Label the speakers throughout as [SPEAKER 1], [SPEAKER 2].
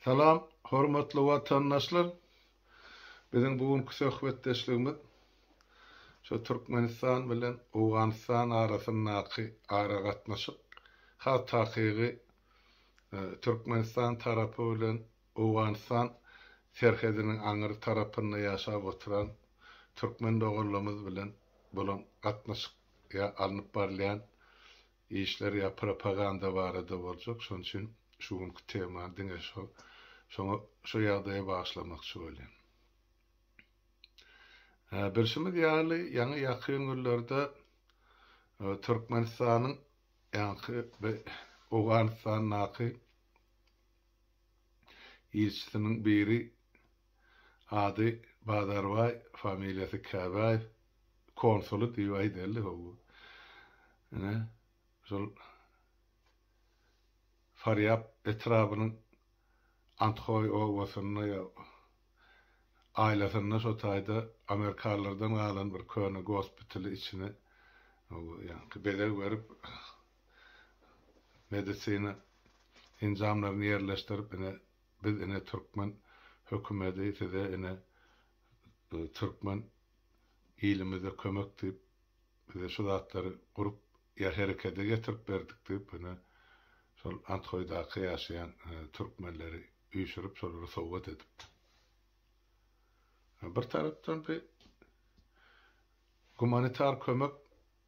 [SPEAKER 1] Salam, hormatly watandaşlar! Biziň bu günki söhbetdeşligimiz şu Türkmenistan bilen Owganystan arasyndaky aragatnaşyk has takygy Türkmenistan tarapy bilen Owganystan serhediniň aňry tarapynda ýaşap oturan türkmen doganlarymyz bilen bolan gatnaşyk ýa alnyp barylýan Işler ýa propaganda barada boljak, şonuň üçin şu günki temany diňe şo, şoňa, şo ýagdaýa bagyşlamakçy bolýan. Hä, bilşimiz ýaly, ýaňy ýakyn günlerde Türkmenistanyň ýaňky bi Owganystandaky ilçisiniň biri, Ady Bazarbaý, familiýasy Käbäýew. Konsuly diýip aýdaýly ho bu. Ine, şol Farýap etrabynyň Anthoý obasynda ýa aýlasynda şo taýda amerikalylardan galan bir köne gospitali içine ho bu ýaňky bezeg berip medisina enjamlaryny ýerleşdirip ine Biz ine türkmen hökümedi size ine türkmen ilimize kömek diýip bize şu zatlary gurup ýa herekede getirip berdik diýip ine şol Anthoýdaky ýaşaýan türkmenleri üýşürip şolary sowgat edipdir. Bir tarapdan bi gumanitar kömek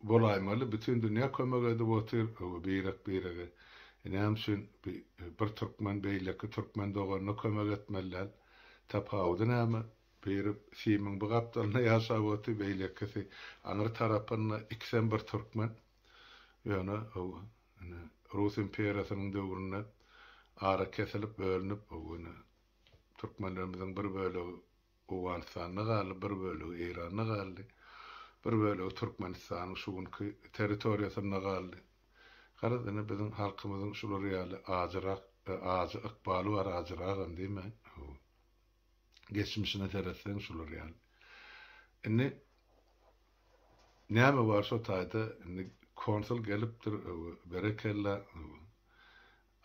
[SPEAKER 1] Bolaýmaly bütin dünýä kömek edip otyr öwe birek birege näme üçin bir türkmen beýleki türkmen doganyna kömek etmeli däl tapawudy näme biri simiň bu gapdalynda ýaşap otyr beýlekisi aňry tarapynda ikisem bir türkmen ýöne öwe ine rus imperiýasynyň döwründe ara kesilip bölünip öwe ine türkmenlerimiziň bir bölegi Owganystanda galdy, bir bölegi Eýranda galdy, bir bölegi Türkmenistanyň şu günki territoriýasynda galdy. Garaz, ine, biziň halkymyzyň şular ýaly ajyrak, ajy ykbaly bar, ajyragam diýmäň, hawa. Geçmişine seretseň şular ýaly. Indi näme bar şo taýda, indi konsul gelipdir, hawa, berekella, hawa.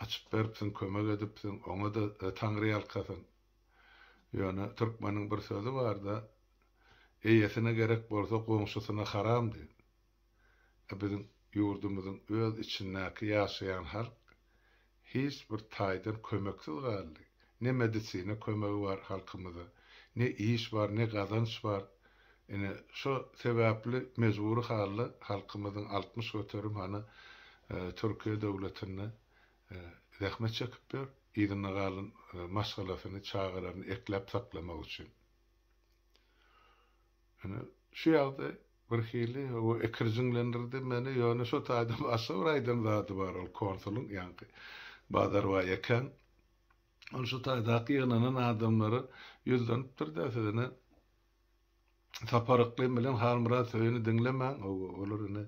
[SPEAKER 1] Açyp beripsiň, kömek edipsiň, oňa-da Taňryýalkasyn. Ýöne türkmeniň bir sözi barda, Eýesine gerek bolsa goňşusyna haram diýip. E biziň ýurdumyzyň öz içindäki ýaşaýan halk hiç bir taýdan kömeksiz galdy. Ne medisina kömegi bar halkymyza, ne iş bar, ne gazanç bar. Ine şo sebäpli mejbury halda halkymyzyň altmyş göterim hany Türkiýe döwletinde zähmet çekip ýör, yzynda galan maşgalasyny, çagalaryny ekläp saklamak üçin. Ine, şu ýagdaý birhili ekirjiňlendirdi meni, ýöne şo taýda başga bir aýdan zady bar, ol konsulyň, ýaňky Bazarbaý ekäň, ol şu taýdaky ýygnanan adamlara ýüzlenipdir-de, Siz ine, Sapar yklym bilen Halmyrat söýüni diňlemäň, olar ine,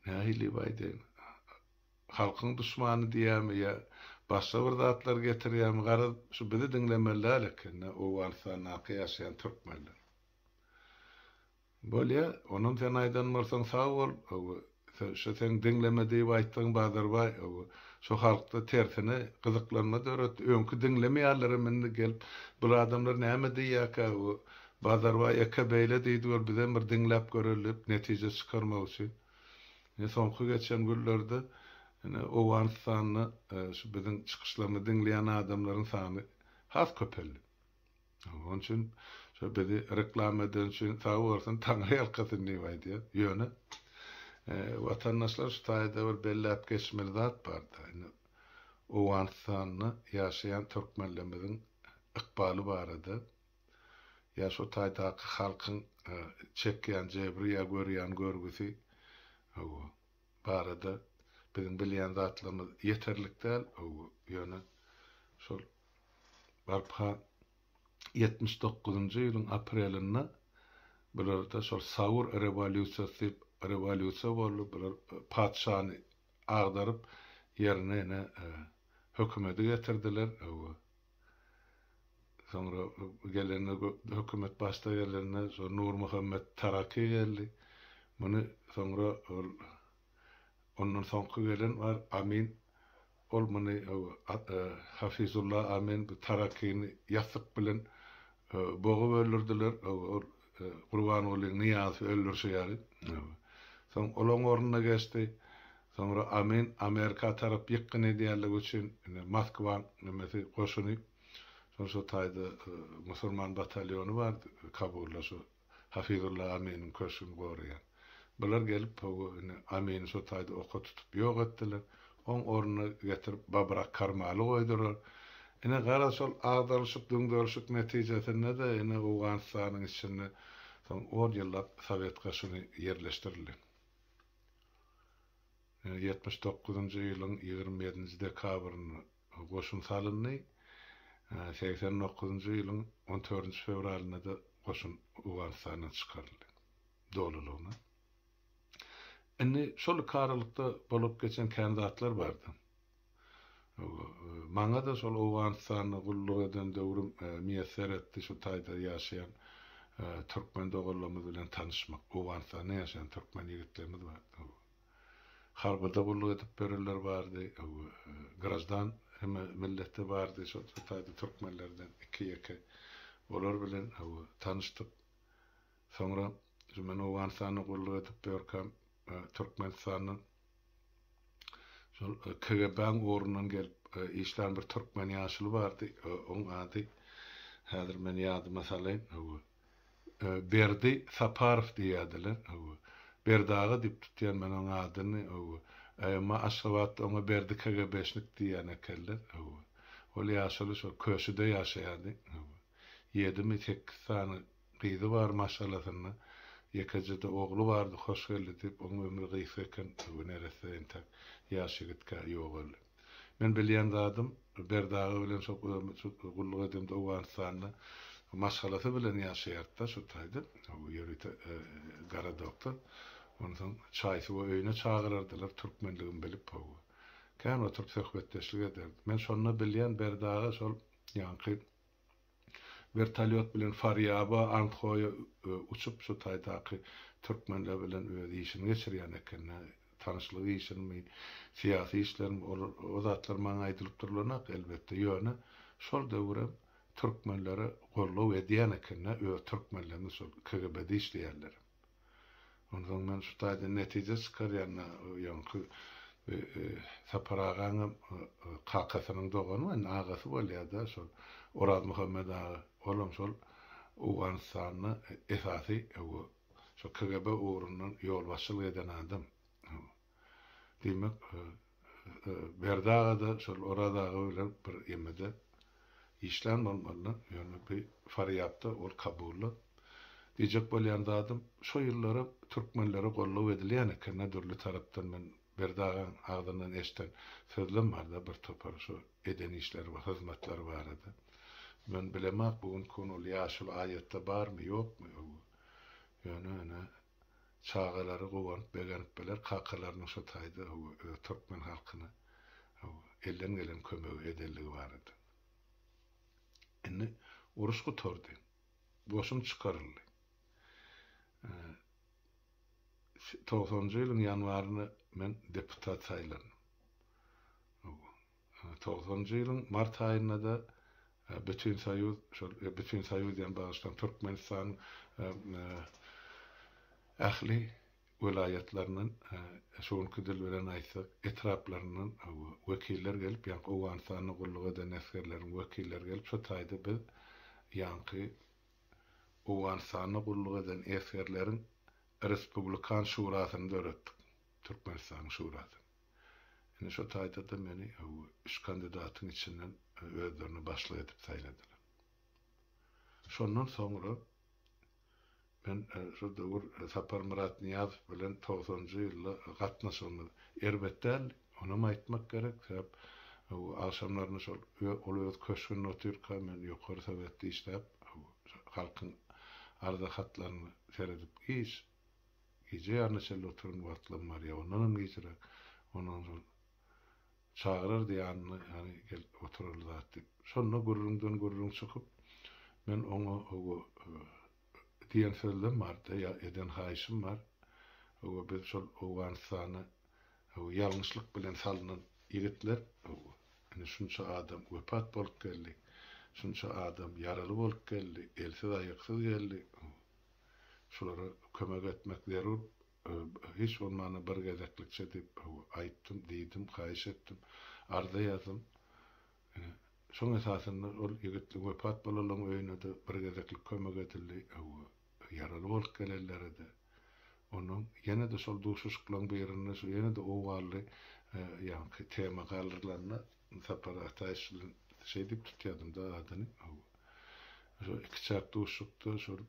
[SPEAKER 1] Nähili baý deň? Halkyň duşmany diýýärmi ýa başga bir zatlar getirýärmi garaz şu bizi diňlemeli däl ekende Owganystandaky ýaşaýan türkmenler. Bolýa onam sen aýdan bolsaň sag bol öwi şu seň diňleme diýip aýtdygyň Bazarbaý öwi şu halkda tersine gyzyklanma döretdi öňki diňlemeýärlerem indi gelip bul adamlar näme diýýäkä öwi Bazarbaý eke beýle diýdi gör, bizem bir diňläp göreliýip, netije çykarmak üçin. Ine, soňky geçen günlerde, ine, Owganystanda şu biziň çykyşlarymyzy diňleýän adamlaryň sany has köpeldi. Onuň üçin şo bizi reklama edeni üçin sag bolsun, taňryýalkasyn diýip aýdýas. Ýöne, watandaşlar, şu taýda bir belläp geçmeli zat bar-da, indi Owganystanda ýaşaýan türkmenlerimiziň ykbaly barada Ýa şo taýdaky halkyň çekýän jebri ýa görýän görgüsi barada biziň bilýän zatlarymyz ýeterlik däl, ýöne şol barha ýetmiş dokuzynjy ýylyň aprelinde bularda şol Saur rewolýusiýasy diýip rewolýusiýa boldy, bular patyşany agdaryp ýerine ine hökümedi getirdiler. Soňra gelende hökümet başda gelende şo Nurmuhammet Taraki geldi. Muny soňra ol ondan soňky gelen bar Amin ol muny Hafizulla Amin bu Tarakini ýassyk bilen bogup öldürdiler. Ol Gurbanguly Nyýazowy öldürşi ýaly. Soň olaň ornuna geçdi. Soňra Amin Amerika tarap ýykgyn edýänligi üçin indi Moskwaň nemesi goşuny şol şu taýda musurman batalyony bardy Kabulda şu Hafizulla Aminiň köşgüni goraýan. Bular gelip Pogo ini Amini şo taýda oka tutup ýok etdiler. Oň ornuna getirip Babrak Karmaly goýdular. Ine garaz şol agdaryşyk düňderişik netijesinde-de ine Owganystanyň içinde soň on ýyllap Sowet goşuny ýerleşdirildi. Ine ýetmiş dokuzynjy ýylyň ýigrimi ýedinji dekabrynda goşun salyndy. Segsen dokuzynjy ýylyň on törünji fewralynda-da goşun Owganystandan çykaryldy. dolulygyna. Indi şol iki aralykda bolup geçen kän zatlar bardy. Maňa-da şol Owganystanda gulluk eden döwrüm miýesser etdi şu taýda ýaşaýan türkmen doganlarymyz bilen tanyşmak. Owganystanda ýaşaýan türkmen ýigitlerimiz bardy. Harbyda gulluk edip berenler bardy. Graždan hem milleti bardy şol taýda türkmenlerden iki-ýeke. Olar bilen tanyşdyk. Soňra şu men Owganystanda gulluk edip ýörkäm, Türkmenistanda şol KGB-niň ugrundan gelip işlän bir türkmen ýaşuly bardy. Oň ady häzir men ýadyma salaýyn. Hawa. Berdi Saparow diýýärdiler. Hawa. Berdi aga diýip tutýan men oň adyny. Hawa. Emma Aşgabatda oňa Berdi KGB-şnik diýýän ekenler. Hawa. Ol ýaşuly şol köşüde ýaşaýardy. Hawa. Ýedimi, sekiz sany Gyzy bar maşgalasynda ýekejede ogly bardy hoşgeldi diýip oň ömri gysga eken bu neresse entäk ýaş ýigitkä ýogaldy. Men bilýän zadym Berdi aga bilen şo gulluk edemde Owganystanda maşgalasy bilen ýaşaýardyda şo taýda ýörite gara doktor onsoň çaý suwa öýüne çagyrardylar türkmenligimi bilip how kän oturyp söhbetdeşlik ederdik men şonda bilýän Berdi aga şol ýaňky Wertolýot bilen Farýaba, Andhoýa uçup, şu taýdaky türkmenler bilen öz işini geçirýän ekeni. Tanyşlyk işinimi, syýasy işlerimi, ol o zatlar maňa aýdylyp durlanok, elbetde. Ýöne şol döwürem türkmenlere goldaw edýän ekeni, öz türkmenlerimiz şol KGB-de işleýänlerem. Onsoň men şu taýdan netije çykarýan-da, ýoňky Sapar agaňam kakasynyň dogany, indi agasy bolýar-da şol Orazmuhammet aga. Olam şol Owganystanda esasy, şo KGB ugrundan ýolbaşçylyk eden adam. Diýmek, Berdi aga-da şol Oraz aga bilen bir gemide işlän bolmalylar. Ýöne bu farýapda ol kabully. Diýjek bolýan zadym, şo ýyllara türkmenlere gollugy edilýän eken-dä dürli tarapdan. Men Berdi agaň agzyndan eşden sözlem bar-da bir topar şo eden işleri we hyzmatlary barada. Men bilemok, bu günki gün ol ýaşuly aýatda barmy, ýokmy öwgi. Ýöne ine, Çagalary guwanyp begenip biler kakalarynyň şo taýda hawa öz türkmen halkyna hawa elden gelen kömegi edenligi barada. Indi uruş gutardy. Goşun çykaryldy. Togsanjy ýylyň ýanwarynda men deputat saýlandym. Hawa. Togsanjy ýylyň mart aýynda-da Bütinsoýuz, şol Bütinsoýuz diýen bagyşlaň Türkmenistanyň ähli welaýatlaryndan, şu günki dil bilen aýtsak, etraplaryndan wekiller gelip, ýaňky Owganystanda gulluk eden esgerleriň wekilleri gelip, şu taýda biz ýaňky Owganystanda gulluk eden esgerleriň Respublikan şurasyny döretdik, Türkmenistanyň şurasyny. Ine şo taýda-da meni üç kandidatyň içinden özlerine başlyk edip saýladylar. Şondan soňra men şo döwür Saparmyrat Nyýazow bilen togsanjy ýylda gatnaşygymyz erbet däldi. Onam aýtmak gerek, sebäp agşamlaryny şol ol öz köşgünde otyrka, men ýokary sowetde işläp, halkyň arza hatlaryny seredip, hiç Gije ýaryna çenli oturan wagtlam bar, ýa ondanam gijirä, ondan soň çagyrardy ýanyna, ýany gel oturaly zat diýip. Şonda gürrüňden gürrüň çykyp, men oňa owo, diýen sözlem bardy, ýa eden haýyşym bar, owo, biz şol Owganystana, owo, ýalňyşlyk bilen salnan ýigitler, owo, indi şunça adam wepat bolup geldi, şunça adam ýaraly bolup geldi, elsiz-aýaksyz geldi, owo. şulara kömek etmek zerur, hiç bolmanda bir gezeklikçe diýip aýtdym, diýdim, haýyş etdim, arza ýazdym. Ine, şoň esasynda ol ýigit wepat bolanlaryň öýüne-de bir gezeklik kömek edildi, ýaraly bolup gelenlere-de. Ondan ýene-de şol duşuşyklaryň birinde şu ýene-de owally ýaňky tema galdyrylanda, Sapar Ataýew bilen şeý diýip tutýardym-da adyny. Şol ikiçäk duşuşykda şol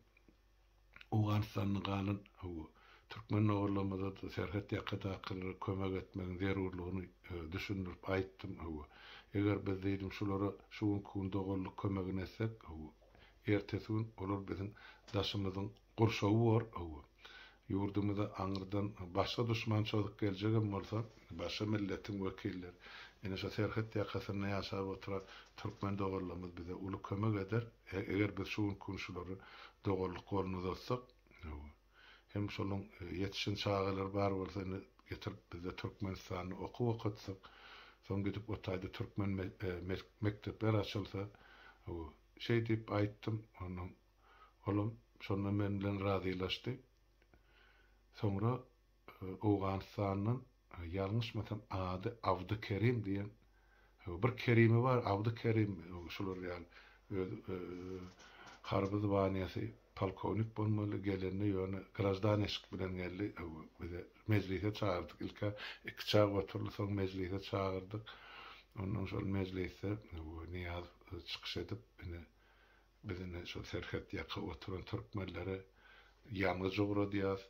[SPEAKER 1] Owganystanda galan türkmen ogullarymyza-da serhet ýakadakylara kömek etmegiň zerurlygyny düşündirip aýtdym. Eger biz diýdim şulara şu günki gün doganlyk kömegini etsek, ertesi gün olar biziň daşymyzyň Gurşawy bor ow. Ýurdumyza aňyrdan başga duşman çozup geljegem bolsa, başga milletiň wekilleri, ine şu serhet ýakasynda ýaşap oturan türkmen doganlarymyz bize uly kömek eder. Eger biz şu günki gün şulara doganlyk goluny uzatsak, ow. Hem şolaryň ýetişen çagalary bar bolsa, indi getirip bizde Türkmenistanda okuw okatsak, soň gidip o taýda türkmen mekdepler açylsa, ow. Şeý diýip aýtdym. Ondan Olam şonda men bilen razylaşdy. Soňra Owganystandan, ýalňyşmasam ady Abdykerim diýen, bir Kerimi bar, Abdykerim şular ýaly, öz harby zwaniýasy polkownik bolmaly, gelende ýöne graždanişik bilen geldi, bize mejlise çagyrdyk, ilk-ä iki çag oturdy, soň mejlise çagyrdyk. Ondan şol mejlisde Nyýazow çykyş edip, ine, Biz indi şol serhet ýaka oturan türkmenlere ýangyç ugradýas,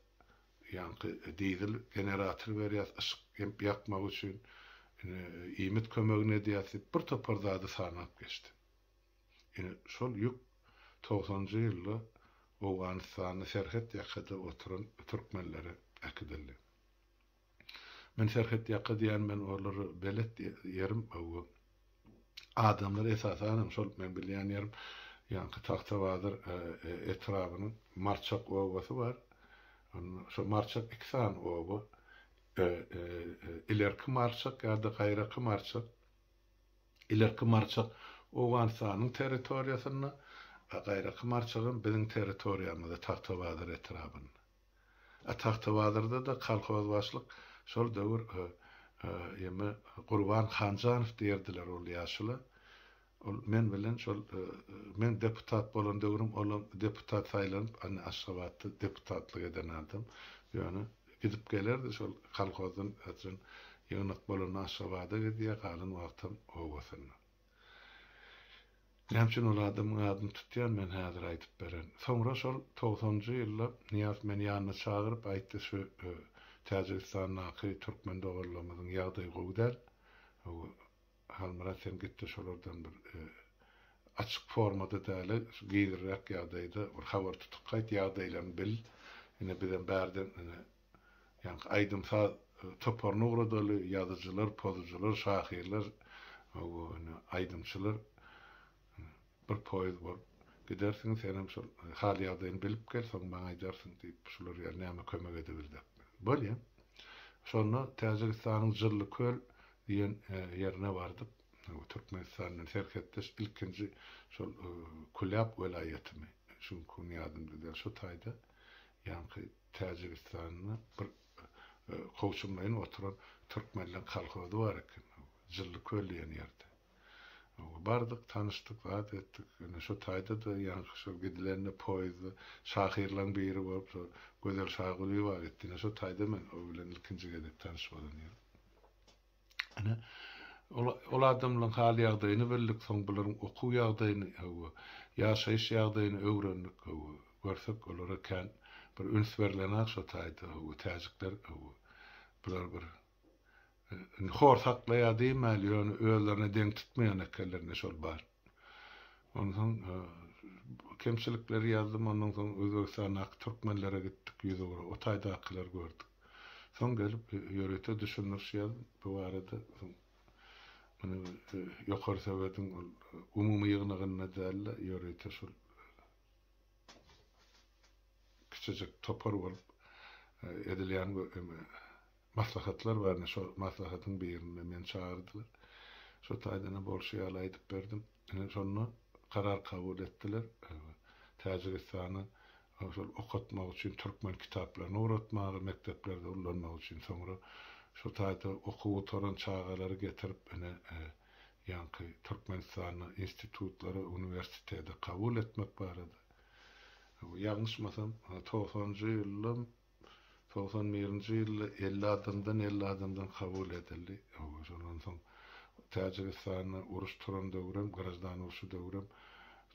[SPEAKER 1] ýaňky dizel generator berýas yşyk ýakmak üçin, indi iýmit kömegini edýäs diýip bir topar zady sanap geçdi. Indi şol ýük togsanjy ýylda Owganystanda serhet ýakada oturan türkmenlere äkidildi. Men serhet ýaka diýýän men orlary belet ýerim hawa. Adamlar esasanam şol men bilýän ýerim ýaňky Tagtabazar etrabynyň Marçak obasy bar. Şo Marçak iki sany oba. Ilerki Marçak ýa-da gaýraky Marçak. Ilerki Marçak Owganystanyň territoriýasynda, a gaýraky Marçagam biziň territoriýamyzda Tagtabazar etrabynda. A Tagtabazarda-da kolhozbaşlyk şol döwür emi Gurban Hanjanow diýerdiler ol ýaşula. Ol men bilen şol meň deputat bolan döwrüm olam deputat saýlanyp indi Aşgabatda deputatlyk eden adam. Ýöne gidip gelerdi şol kolhozdan ýygnak bolanda Aşgabada gidýär, galan wagtam obasynda. Näme üçin ol adamyň adyny tutýan men häzir aýdyp beren. Soňra şol togsanjy ýylda Nyýaz meni ýanyna çagyryp aýtdy şu Täjigistandaky türkmen doganlarymyzyň ýagdaýy gowy däl. Halmyrat sen gitde şolardan bir açyk formada däli şu gizliräk ýagdaýda bir habar tutup gaýt ýagdaýlaryny bil. Ine bizem bärden Ýaňky aýdym-saz toparyny ugradaly, ýazyjylar, pozujylar, şahyrlar, aýdymçylar bir poýuz bolup gidersiň, sen hem şol hal-ýagdaýyny bilip gel, soň maňa aýdarsyň diýip, şular ýaly näme kömek edebildik. Bolýa. Şonda Täjigistanyň Jyllyköl diýen ýerine bardyk. Türkmenistan bilen serhetdeş ilkinji şol Kulýap welaýatymy, şuňkuny ýadymda däl, şo taýda ýaňky. Täjigistanda bir kowçumlaýyn oturan türkmenleň kolhozy bar eken. Jylly köl diýen ýerde. Bardyk, tanyşdyk, zat etdik. Ine, şo taýda-da ýaňky şol gidilende poýezdda şahyrlaň biri bolup, şo Gözel Şagulyýewa gitdi. Ine, şo taýda men o bilen ilkinji gezek tanyş bolan ýerim. Ine, ol, ol adamlaryň hal-ýagdaýyny bildik, soň bularyň okuw ýagdaýyny, hawa, ýaşaýyş ýagdaýyny öwrendik, hawa, görsek, olara kän bir üns berlen-ak şo taýda, hawa, täjikler, hawa, bular bir, indi hor saklaýar diýmäli, ýöne özlerine deň tutmaýan ekenler, indi şol bar. Onsoň kemçilikleri ýazdym, ondan soň Özbegistandaky türkmenlere gitdik, ýüz ugra, o taýdakylary gördük. Soň gelip ýörite düşündiriş ýazdym bu barada, soň muny Ýokary Sowetiň ol umumy ýygnagynda däl-de, ýörite şol kiçijik topar bolup edilýän Maslahatlar bardy. Şo maslahatyň birinde meni çagyrdylar. Şo taýdan-a bolşy ýaly aýdyp berdim. Ine, şonda karar kabul etdiler. Täjigistany şol okatmak üçin türkmen kitaplaryny ugratmaga, mekdeplerde ullanmak üçin. Soňra şo taýda okuw gutaran çagalary getirip, ine, ýaňky Türkmenistanda institutlara, uniwersitete kabul etmek barada. Ýalňyşmasam, togsanjy ýylyň Togsan birinji ýylda elli adamdan elli adamdan kabul edildi. Hawa, şondan soň Täjigistanda uruş turan döwrem, graždan urşy döwrem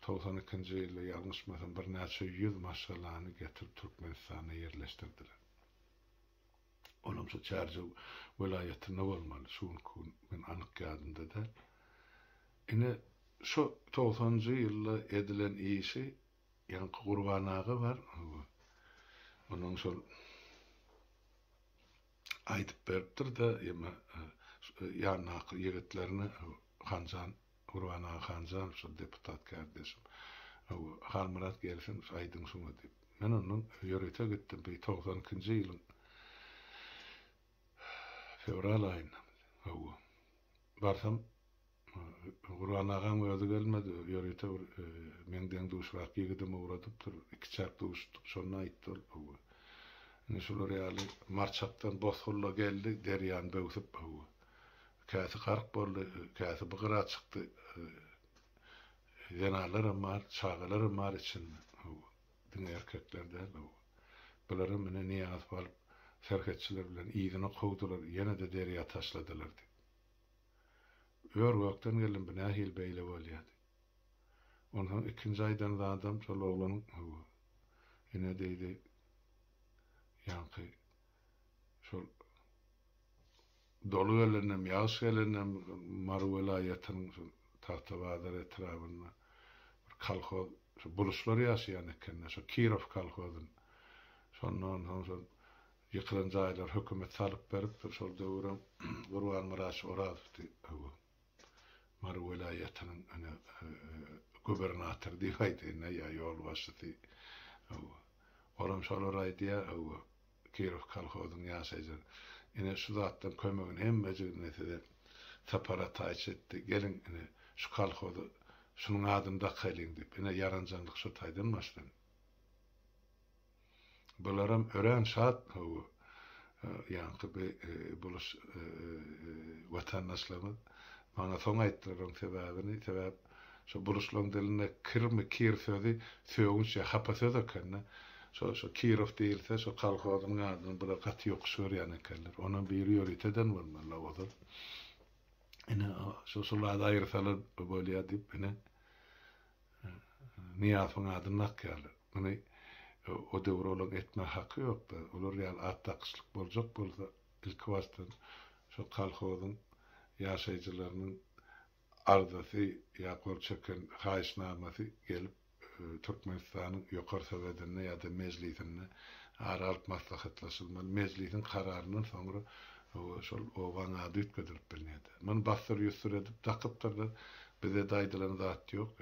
[SPEAKER 1] togsan ikinji ýylda ýalňyşmasam birnäçe ýüz maşgalany getirip Türkmenistanda ýerleşdirdiler. Olam şu Çärjew welaýatynda bolmaly, şu günki gün men anyk ýadymda däl. Ine, şo togsanjy ýylda edilen işi Ýaňky Gurban aga bar, onuň şol aýdyp beripdir-de, emma ýandaky ýigitlerine Hanjan, Gurban aga Hanjan, şol deputat kärdeşim, Halmyrat gelsin, aýdyň şuňa diýip. Men ondan ýörite gitdim, bir togsan ikinji ýylyň fewral aýyndamydy, hawa. Barsam, Gurban agaň özi gelmedi, ýörite bir meň deň-duşrak ýigidim ugradypdyr. Ikiçäk duşduk, şonda aýtdy ol, hawa. Indi şular ýaly Marçakdan bosgulla geldi, derýany böwsüp, hawa. Käsi gark boldy, käsi bu gyra çykdy. Zenanlaram bar, çagalaram bar içinde, hawa. Diňe erkekler däldi bu. Bularam ine Nyýazow alyp, serhetçiler bilen yzyna kowdular, ýene-de derýa taşladylar diýip. Ör-gökden geldim, bu nähili beýle bolýa diýip. Onsoň ikinji aýdan zadam şol oglanyň, Hawa. Ine diýdi, ýaňky şol. Doly gelendem, ýagyş gelendem Mary welaýatynyň şu Tagtabazar etrabynda bir kolhoz, şu buluçlar ýaşaýan ekende, şu Kirow kolhozyn. Şonda onsoň şol ýykylan jaýlary hökümet salyp beripdir. Şol döwürem Gurbanmyrat şu Orazowdy. Hawa. Mary welaýatynyň ine gubernatory diýip aýdaýyn-da ýa ýolbaşçysy hawa. Olam şolar aýdýar hawa Kirow kolhozyň ýaşaýjylary. Ine şu zatlaryň kömegini hemmejigini ine size Sapar Ataýewiç etdi. Geliň ine şu kolhoza şunuň adyny dakaýlyň diýip. Ine ýaranjaňlyk şu taýdan başlandy. Bularam örän şat bu ýaňky bi buluş watandaşlarymyz. Maňa soň aýtdylar onuň sebäbini. Sebäp şo buluşlaryň dilinde kirmi kir sözi sögünç ýa hapa söz ekeni. Şo şo Kirow diýilse şo kolhozynyň adyny bular gaty ýokuş görýän ekenler. Onam biri ýöriteden bolmaly Lawozan. Ine şo şol ady aýyrsalar bolýa diýip ine Nyýazowyň adyny dakýarlar. Muny o döwür olaň etmäge haky ýokdy. Olar ýaly at dakyşlyk boljak bolsa, ilkibasdan şo kolhozyň ýaşaýjylarynyň arzasy ýa gol çeken haýyşnamasy gelip Türkmenistanyň Ýokary Sowedinde ýa-da Mejlisinde ara alyp maslahatlaşylmaly. Mejlisiň kararyndan soňra şol obaň ady üýtgedilip bilnerdi. Muny bassyr-ýussur edip dakypdyrlar. Bize-de aýdylan zat ýok.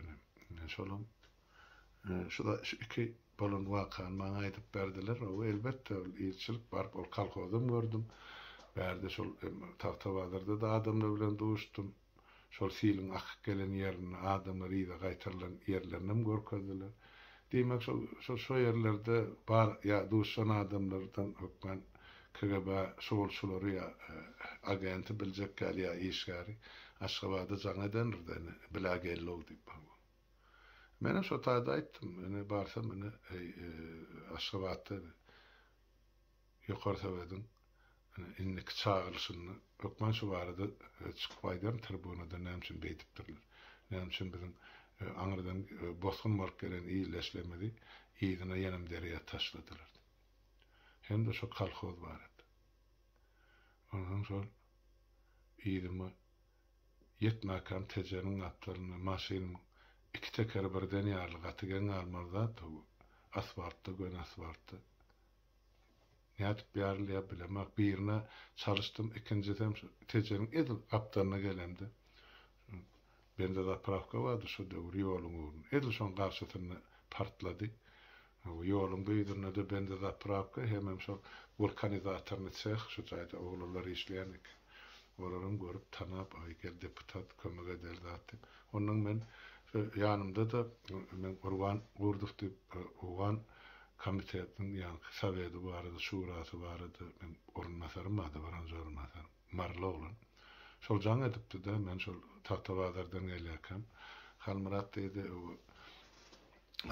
[SPEAKER 1] Ine, şolam şu şu iki bolan wakany maňa aýdyp berdiler. Oba, elbetde, ol ilçilik baryp, ol kolhozam gördüm. Bärde şol Tagtabazarda-da adamlar bilen duşdum. Şol siliň akyp gelen ýerinde adamlar yza gaýtarylan ýerlerinem görkezdiler. Diýmek, şol, şol şo ýerlerde bar ýa duşan adamlardan hökman KGB şugulçylary ýa agenti biljek ýaly ýa işgäri Aşgabada jaň edendir-de, ine, bilä geldi-ow diýip baý bu. Menem şo taýda aýtdym, ine, barsam, ine, eý, Aşgabatda, ine, Ýokary Sowediň indiki çagyrylyşynda hökman şu barada çykyp aýdaryn, tribunada näme üçin beýdipdirler? Näme üçin biziň aňyrdan bosgun bolup gelen ildeşlerimizi yzyna ýenem derýa taşladylar diýip. Hem-de şo kolhoz barada. Onsoň şol yzyma ýetmäkäm Tejeniň gapdalynda maşynymyň iki tekeri birden ýaryly, gaty geň galmaly zat-da bu. Asfaltda, göni asfaltda. Nädip bärilýär bilemok. Birine çalyşdym, ikinjisem şu Tejeniň edil gapdalyna gelemde, şu benzozapravka bardy şu döwür ýoluň ugrunda, edil şoň garşysynda partlady. Bu ýoluň düýbünde-de benzozapravka hemem şol wulkanizatorny seh, şu jaýda oglanlar işleýän eken. Olaram görüp, tanap, aý, gel deputat, kömek edeli zat diýip. Onnoň men şu ýanymda-da, men Gurban Gurdow diýip, owgan Komitetiniň ýaňky sowedi barada, şurasy barada men orunbasarym bardy, birinji orunbasar, maryly oglan. Şol jaň edipdi-de, men şol Tagtabazardan gelýärkäm, Halmyrat diýdi,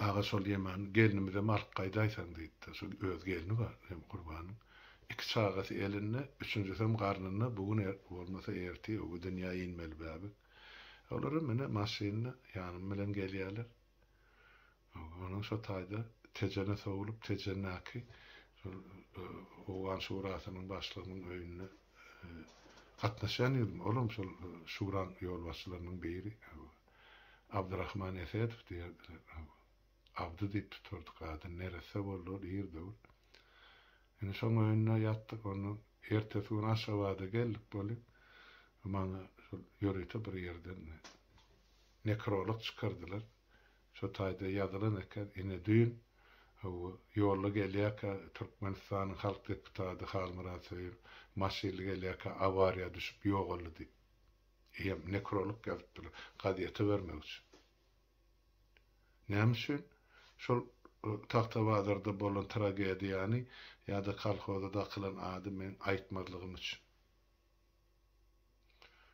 [SPEAKER 1] Aga, şol Ýemany gelnimizem alyp gaýdaýsaň diýdi-de, şol öz gelni bar hem Gurbanyň. Iki çagasy elinde, üçünjisem garnynda, bu gün bolmasa ertir öňi dünýä inmeli bäbek. Olaram ine maşynda ýanym bilen gelýärler. Onuň şo taýda Tejene sowlup, Tejendäki şol Owgan şurasynyň başlygynyň öýüne gatnaşýan ýüzüm, ol hem şol şuraň ýolbaşçylarynyň biri, Abdyrahman Esedow diýerdiler. Abdy diýip tutardyk adyny, neresse boldy ol ir döwür. Indi şoň öýünde ýatdyk, ondan ertesi gün Aşgabada geldik bolýa. Maňa şol ýörite bir ýerden nekrolog çykardylar. Şu taýda ýazylan eken, ine düýn hawa, ýolda gelýärkä Türkmenistanyň halk deputady Halmyrat Söýün maşynly gelýärkä awariýa düşüp ýogaldy diýip, eýýäm nekrolog ýazypdylar, gazete bermek üçin. Näme üçin şol Tagtabazarda bolan tragediýany ýa-da kolhoza dakylan ady men aýtmazlygym üçin.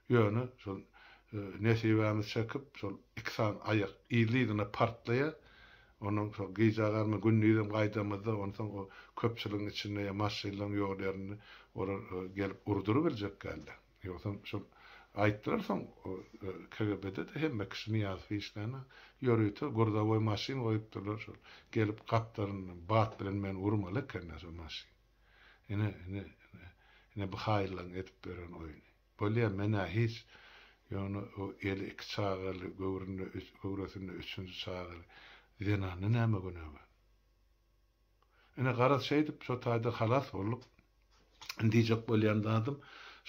[SPEAKER 1] Ýöne şol nesibämiz çekip, şol iki sany aýak yzly-yzyna partlaýar. Onuň şol gijägarmy, gündizem gaýdamyzda, onsoň o köpçüligiň içinde ýa maşynlaryň ýol ýerinde olar gelip urdurybiljek däldi. Ýogsam şol aýtdylar soň KGB-de-de hemme kişi Nyýazow işlänä, ýörite gurzawoý maşyn goýupdyrlar, şol gelip gapdalyndan bat bilen meni urmaly ekenler şol maşyn. Ine, ine, ine, ine bu haýyllaň edip beren oýny. Bolýa, men-ä hiç, ýöne o eli iki çagaly, göwründe, göwresinde üçünji çagaly zenanny näme günägär? Ine, garaz, şeýdip, şo taýdan halas bolduk. Indi diýjek bolýan zadym,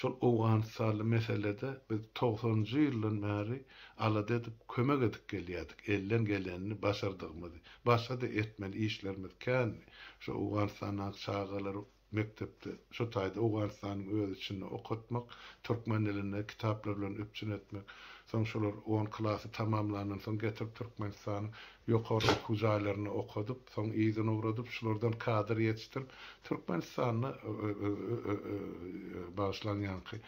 [SPEAKER 1] şol owganystanly meselede biz togsanynjy ýyldan bäri alada edip, kömek edip gelýärdik, elden gelenini, başardygymyzy. Başga-da etmeli işlerimiz kändi. Şu Owganystandaky çagalary mekdepde, şu taýda Owganystanyň öz içinde okatmak, türkmen dilinde kitaplar bilen üpjün etmek, soň şolar on klasy tamamlandan soň getirip Türkmenistanyň ýokary okuw jaýlarynda okadyp, soň yzyna ugradyp, şulardan kadr ýetişdirip, Türkmenistanda, bagyşlaň ýaňky,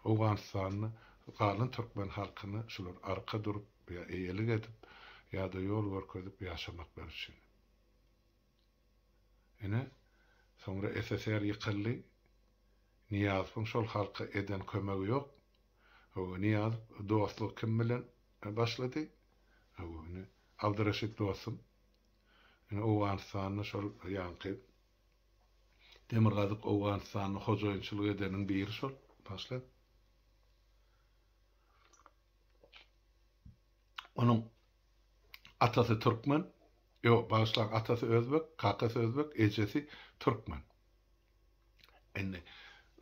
[SPEAKER 1] Owganystanda galan türkmen halkyna şular arka durup ýa eýelik edip ýa-da ýol görkezip ýaşamaklar üçin. Ine, soňra SSR ýykyldy. Nyýazowyň şol halka eden kömegi ýok. Hawa, Nyýazow dostlugy kim bilen başlady? Hawa, ine, Abdyreşit dostum. Ine, Owganystanda şol ýaňky Demirgazyk Owganystanda hojaýynçylyk edeniň biri şol başlap. Onuň Atasy türkmen, ýok, bagyşlaň, atasy özbek, kakasy özbek, ejesi türkmen. Indi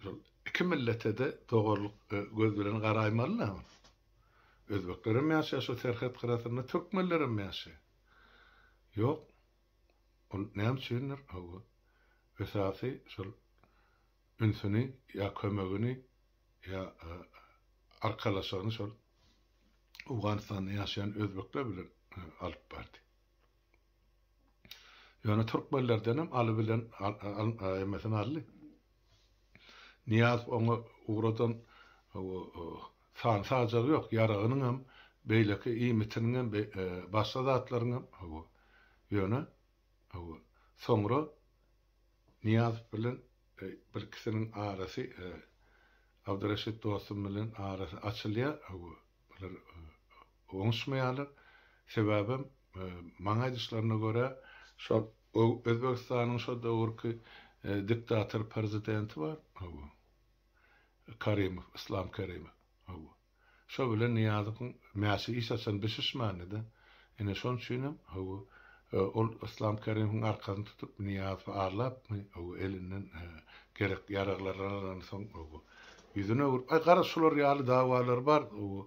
[SPEAKER 1] şol iki millete-de doganlyk göz bilen garaýmaly-da. Özbekler hem ýaşaýar şu serhet gyrasynda, türkmenler hem ýaşaýar. Ýok, ol näme üçindir, hawa, esasy şol ünsüni ýa kömegini ýa arkalaşygyny şol Owganystanda ýaşaýan özbekler bilen alyp bardy. Ýöne türkmenlerdenem Aly bilen hemmesini aldy. Nyýazow oňa ugradan san-sajagy ýok, ýaragynyňam, beýleki iýmitiniňem, başga zatlaryňam, ýöne soňra Nyýazow bilen birkisiniň arasy Abdyreşit dostum bilen arasy açylýar bular oňuşmaýarlar sebäbem maňa aýdyşlaryna görä şol Özbegistanyň şo döwürki diktator prezidenti bar Karimow Yslam Karimow Şo bilen Nyýazowyň mäşi iş açan bir şişmändi-de. Ine, şonuň üçinem, hawa, ol Yslam Kerimowyň arkasyny tutup, Nyýazowy arlapmy, hawa, elinden gerek-ýaraglaryny alansoň, hawa, ýüzüni öwrüp, Aý, garaz, şular ýaly dawalar bar, hawa,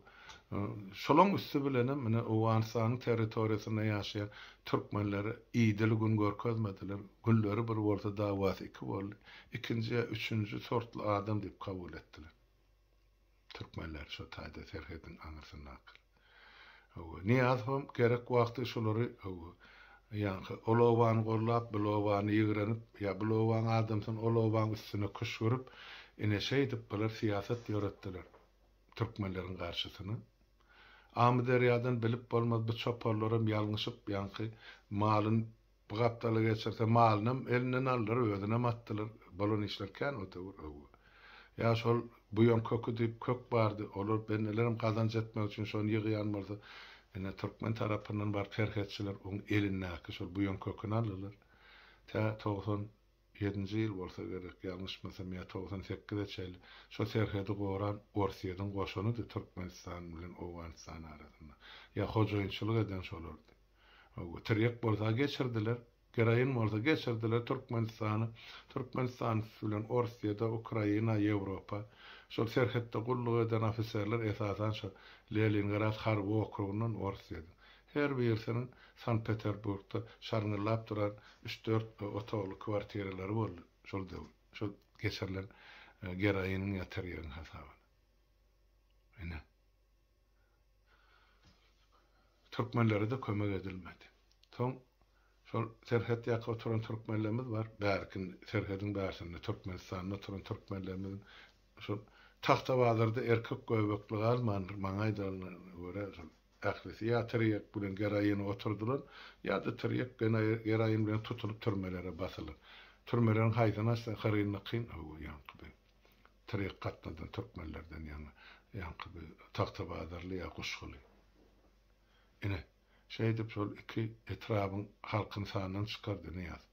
[SPEAKER 1] şolaryň üsti bilenem, ine, Owganystanyň territoriýasynda ýaşaýan türkmenlere idili gün görkezmediler, günleri bir bolsa, dawasy iki boldy, ikinji ýa üçünji sortly adam diýip kabul etdiler. Türkmenler şo taýda serhediň aňyrsyndakyr. Hawa, Nyýazowam gerek wagty şolary, hawa, ýaňky ol obany gollap, bil obany ýigrenip, ýa bil obaň adamsyn ol obaň üstüne küşgürip, ine şeýdip bular syýasat ýöretdiler türkmenleriň garşysyna. Amyderýadan bilip bolmaz bu çoparlaram ýalňyşyp ýaňky malyn Bu gapdaly geçirse malynam elinden aldylar özünem atdylar bolan işler kän ote bir öwgi ýa şol buýan köki diýip kök bardy olar bendelerem gazanç etmek üçin şony ýygýan bolsa ine türkmen tarapyndan baryp serhetçiler oň elindäki şol buýan köküni aldylar tä togsan ýedinji ýyl bolsa gerek ýalňyşmasam ýa togsan sekize çenli şo serhedi goran orsyýeden goşunydy türkmenistan bilen owganystan arasynda ýa hojaýynçylyk eden şolardy. Tirýek bolsa geçirdiler, geroin bolsa geçirdiler Türkmenistana. Türkmenistan bilen Orsýede, Ukraina, Ýewropa. Şol serhetde gulluk eden ofiserler esasan şo Lelingrad harby okrugyndan Orsýede. Her birisiniň Sankt-Peterburgda şarňyllap duran üç-dört otagly kwartiralary boldy şol döwür, şol geçirilen geroiniň ýa tirýegiň hasabyna. Ine. Türkmenlere-de kömek edilmedi. Soň şol serhet ýaka oturan türkmenlerimiz bar, bärki serhediň bärsinde Türkmenistanda oturan türkmenlerimiziň şol Tagtabazarda erkek göbekli galmandyr, maňa aýdanyna görä şol ählisi ýa tirýek bilen geroýine oturdylar, ýa-da tirýek geroýin bilen tutulyp türmelere basylar. Türmeleriň haýsyny açsaň hyryn-nykyn, hawa, ýaňky beg. Tirik gatnadan türkmenlerden ýaňa ýaňky bi tagtabazarly ýa guşguly. Ine, şeýdip şol iki etrabyň halkyny sandan çykardy Nyýaz.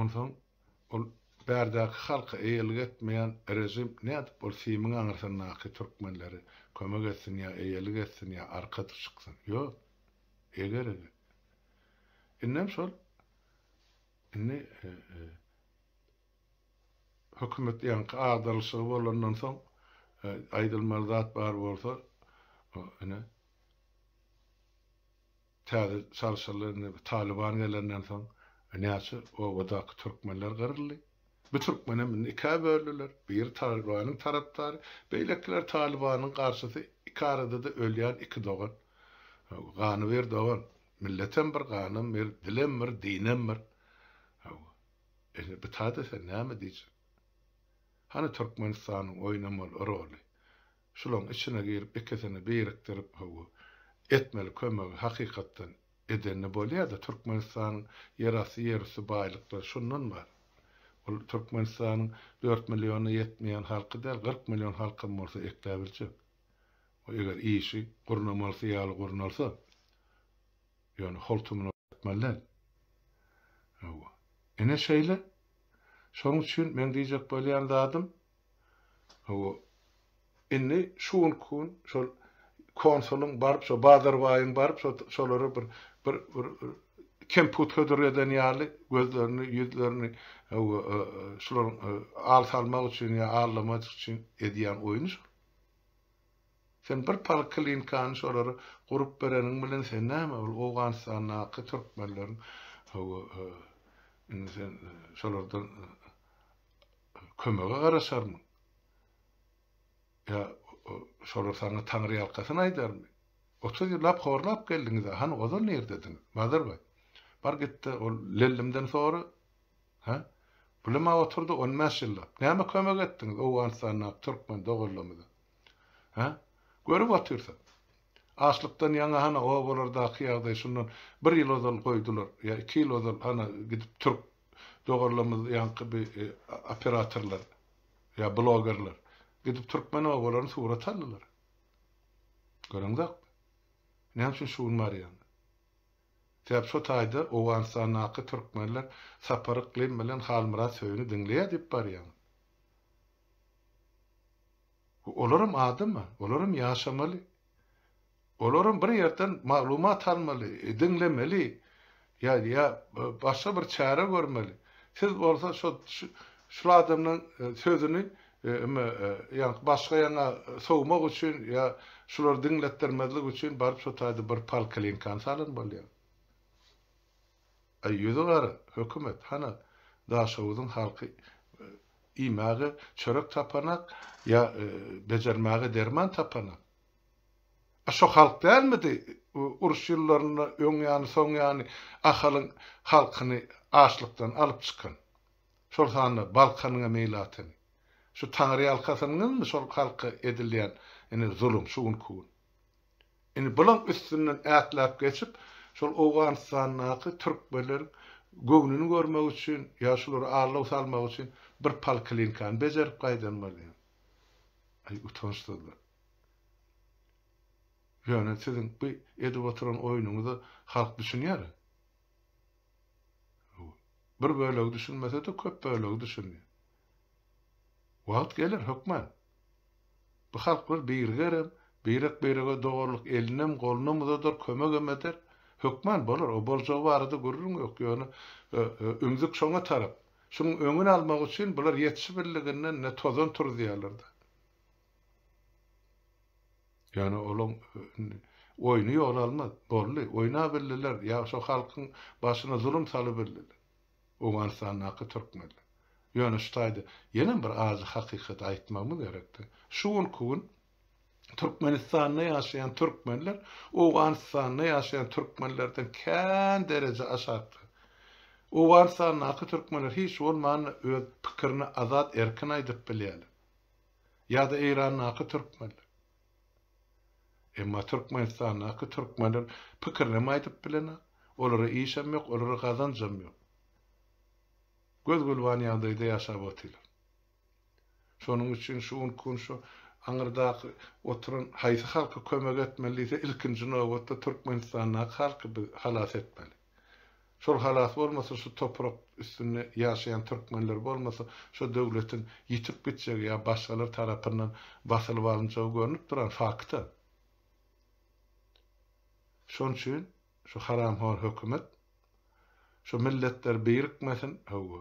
[SPEAKER 1] Onsoň ol bärdäki halka eýelik etmeýän režim nädip ol simiň aňyrsyndaky türkmenleri kömek etsin ýa eýelik etsin ýa arka çyksyn? Ýok. Eger-eger. Indem şol Indi hökümet ýaňky agdarylyşygy bolandan soň aýdylmaly zat bar bolsa ine täze çalşylar indi bu Talyban gelenden soň näçe obadaky türkmenler gyryldy. Bu türkmenem indi ikä böldüler. Biri Talybanyň tarapdary, beýlekiler Talybanyň garşysy. Iki arada-da ölýän iki dogan. Ganyber dogan. Milletem bir ganam bir dilem bir dinem bir hawa indi bu tada sen näme diýjek hany Türkmenistanyň oýnamaly roly şulaň içine girip ikisini birikdirip hawa etmeli kömegi hakykatdan edende bolýada Türkmenistanyň ýerasty ýerüsti baýlyklary şundan bar ol Türkmenistanyň dört milliona ýetmeýän halky däl kyrk million halkam bolsa ekläbiljek. we eger işi gurnamalysy ýaly gurnalsa, ýöne holtumyna ýetmeli däl. Hawa, ine şeýle. Şonuň üçin meň diýjek bolýan zadym, hawa, indi şu günki gün şol konsulyň baryp, şo Bazarbaýyň baryp, şo şolara bir, bir, bir kemput hödür eden ýaly gözlerini, ýüzlerini, hawa, şolaryň al salmak üçin ýa aldamaç üçin edýän oýny şol. Sen bir polklinkany şolara gurup bereniň bilen sen näme ol Owganystandaky türkmenleriň hawa indi sen şolardan kömege garaşarmyň? Ýa şolar saňa taňryýalkasyn aýdarmy? Otuz ýyllap horlap geldiňiz-ä, hany ozal nirdedyňiz? Bazarbaý, bar git-de ol Lellimden sora, Hä? Puluma oturdy on bäş ýyllap. Näme kömek etdiňiz Owganystandaky türkmen doganlarymyza? Hä? Görüp otyrsyň. Açlykdan ýaňa hana obalardaky ýagdaý şundan bir ýyl ozal goýdular ýa iki ýyl ozal hana gidip türk doganlarymyz ýaňky bi operatorlar ýa blogerler gidip türkmen obalaryny surat aldylar. Göreňzokmy? Näme üçin şu gün barýaňyz? Sebäbi şo taýda Owganystandaky türkmenler Sapar Yklym bilen Halmyrat Söýüni diňleýär diýip barýaň. Olaram adama, olaram ýaşamaly. Olaram bir ýerden maglumat almaly, diňlemeli ýa ýa başga bir çäre görmeli. Siz bolsa şo şul adamlaň sözüni Emma ýa başga ýaňa sowmak üçin, ýa şulary diňletdirmezlik üçin baryp şo taýda bir polklinkany salan bolýar. Aý ýüzi gara, hökümet, hana, Daşoguzyň halky iýmäge çörek tapanak, ýa bejermäge derman tapanak. A şo halk dälmidi uruş ýyllarynda öň ýany, soň ýany Ahalyň halkyny açlykdan alyp çykan? Şol sanda Balkanyň-a meýli atyny. Şu taňryýalkasynyňyzmy şol halka edilýän ine zulum şu günki gün. Indi bulaň üstünden ätläp geçip, şol Owganystandaky türkmenleriň göwnüni görmek üçin ýa şulara allaw salmak üçin bir polklinkany bejerip gaýdan bolýar. Aý utançsyzlar. Ýöne siziň bu edip oturan oýnuňyza halk düşünýär-ä. Bir bölegi düşünmese-de, köp bölegi düşündi. Wagt geler, hökman. Bu halklar birigerem, birek-birege doganlyk elinem, golunam uzadar, kömegem eder. Hökman bolar, o boljagy barada gürrüň ýok, ýöne ümzük şoňa tarap. Şunuň öňüni almak üçin bular ýetişibildiginden ine tozan turuzýarlar-da. Ýöne olaň oýny ýola almaz. Boldy, oýnabildiler, ýa şo halkyň başyna zulum salybildiler. Owganystandaky türkmenler. Ýöne şu taýda ýenem bir ajy hakykaty aýtmagymyz gerekdi. Şu günki gün Türkmenistanda ýaşaýan türkmenler Owganystanda ýaşaýan türkmenlerden kän dereje aşakda. Owganystandaky türkmenler hiç bolmanda öz pikirini azat erkin aýdyp bilýärler. ýa-da Eýrandaky türkmenler. Emma Türkmenistandaky türkmenler pikirinem aýdyp bilenok, olara işem ýok, olara gazanjam ýok. Göz-gülban ýagdaýda ýaşap otyrlar. Şonuň üçin şu gün şu aňyrdaky oturan haýsy halka kömek etmeli diýse, ilkinji nobatda Türkmenistandaky halky biz halas etmeli. Şol halas bolmasa şu toprak üstünde ýaşaýan türkmenler bolmasa şo döwletiň ýitip gitjegi ýa başgalar tarapyndan basylyp alynjagy görnüp duran fakta. Şon üçin şu haramhor hökümet şu milletler birikmesin hawa.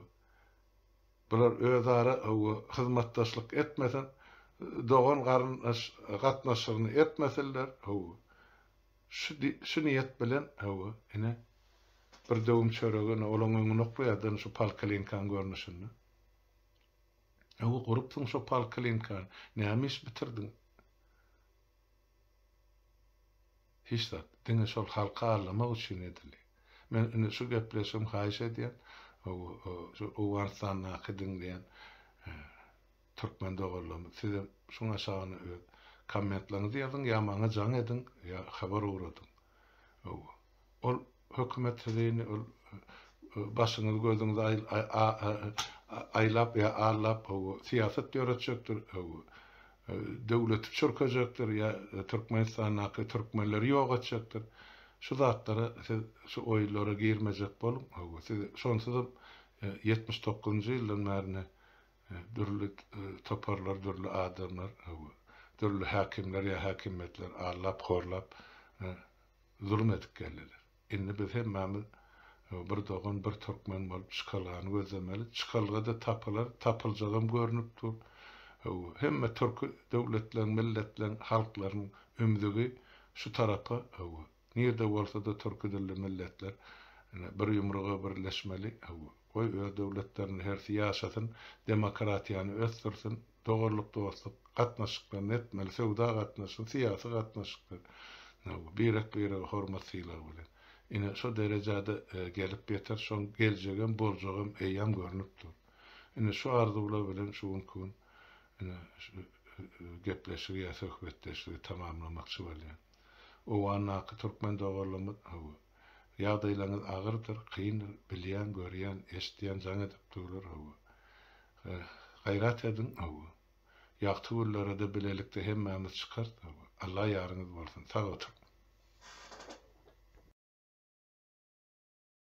[SPEAKER 1] Bular özara hawa hyzmatdaşlyk etmesin dogan garyndaş gatnaşygyny etmesinler hawa. Şu niýet bilen, hawa, ine, bir döwüm çöregi, ine, olaň öňüni oklaýardan şu polklinkaň görnüşinde. Hawa, gurupsyň şo polklinkany. Näme iş bitirdiň? Hiç zat. Diňe şol halky allamak üçin edildi. Men indi şu gepleşigim, haýyş edýän, hawa, şu Owganystandaky diňleýän Türkmen doganlarym sizem şuň aşagyna öz kommentlerňizi ýazyň ýa maňa jaň ediň ýa habar ugradyň. Hawa. Ol hökümet sizi indi ol başyňyzy gözüňizi aýlap ýa allap hawa syýasat ýöretjekdir hawa. Döwleti çürkejekdir ýa Türkmenistandaky türkmenleri ýok etjekdir. Şu zatlara siz şu oýlara girmejek boluň hawa. Siz şonsuzam ýetmiş dokuzynjy ýyldan bärine Dürli toparlar, dürli adamlar, dürli häkimler ýa häkimiýetler aldap, horlap, zulum edip geldiler. Indi biz hemmämiz bir dogan, bir türkmen bolup çykalgany gözlemeli. Çykalga-da tapylar, tapyljagam görnüp dur. Hemme türki döwletleň, milletleň, halklaryň ümzügi şu tarapa Nirde bolsada Türki dilli milletler ine bir ýumruga birleşmeli hawa goý öz döwletlerinde hersi ýaşasyn demokratiýany ösdürsin doganlyk dostluk gatnaşyklaryny etmeli söwda gatnaşygy syýasy gatnaşyklar hawa birek birege hormat sylag bilen ine şo derejada gelip ýeter şoň geljegem boljagam eýýam görnüp dur ine şu arzuwlar bilen şu günki gün ine şu gepleşigi ýa söhbetdeşligi tamamlamakçy bolýan. Owgandaky türkmen doganlarymyz, hawa, ýagdaýlaryňyz agyrdyr, kyndyr, bilýän, görýän, eşidýän, jaň edip durlar, hawa. Gaýrat ediň, hawa. Ýagty günlere-de bilelikde hemmämiz çykarys, hawa. Alla ýaryňyz bolsun. Sag oturyň.